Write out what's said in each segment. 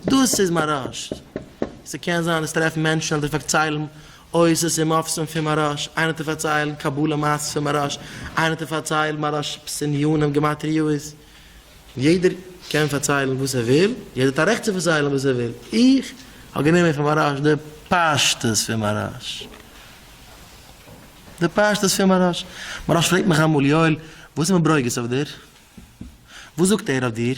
דאס איז מאראש. ס'קען זיין אז טרעפן מענטשן אדער פארציילן עושר ס'איז מופסם פון מאראש, איינער האט פארציילן קבלה מעשה'ס פון מאראש, איינער האט פארציילן מאראש פס' עניינים גמטריאות, יעדער קען פארציילן וואס ער וויל, יעדער האט א רעכט צו פארציילן וואס ער וויל, איך האב גענומען פון מאראש די פשטות פון מאראש. די פשטות פון מאראש. מאראש פרעגט מיך אמאל, יואל, וואס איז מיט ברוגז אויף דיר? וואס זאגט ער אויף דיר?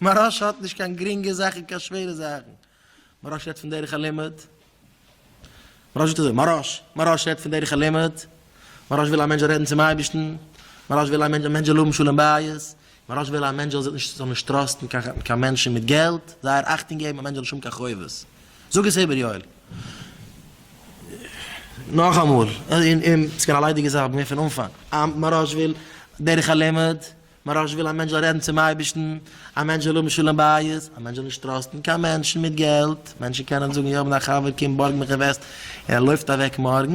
מוהרא ש האט נישט קיין גרינגע זאכן קיין שווערע זאכן, מוהרא ש רעדט פון דרך הלימוד, מוהרא ש זאגט אזוי, מוהרא ש, מוהרא ש רעדט פון דרך הלימוד, מוהרא ש וויל א מענטש זאל רעדן צום אייבערשטן, מוהרא ש וויל א מענטש א מענטש זאל האבן שלום בית, מוהרא ש וויל א מענטש זאל זיך נישט זאל נישט טראסטן קיין קיין מענטשן מיט געלט, זייער אכטונג געבן א מענטש זאל נישט האבן קיין חובות, זאג עס איבער יואל. נאכאמאל, און און ס'קען א ליידיגע זאך, מיר פון אנפאנג, מוהרא ש וויל דרך הלימוד. מוהראש וויל א מענטש זאל רעדן צום אייבערשטן, א מענטש זאל האבן שלום בית, א מענטש זאל נישט טראסטן קיין מענטשן מיט געלט, מענטשן קענען זאגן איך האב א חבר קום בארג מיך אינוועסט און ער לויפט אוועק מארגן,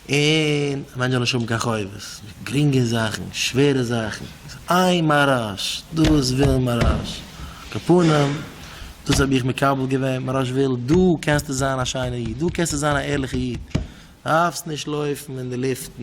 און א מענטש זאל נישט האבן קיין חובות, גרינגע זאכן, שווערע זאכן, איי מוהראש, דאס וויל מוהראש, קאפונים, דאס האב איך מקבל געווען, מוהראש וויל דו קענסטו זיין א שיינער איד, דו קענסטו זיין א ערליכע איד, דארפסט נישט לויפן אין די לופטן.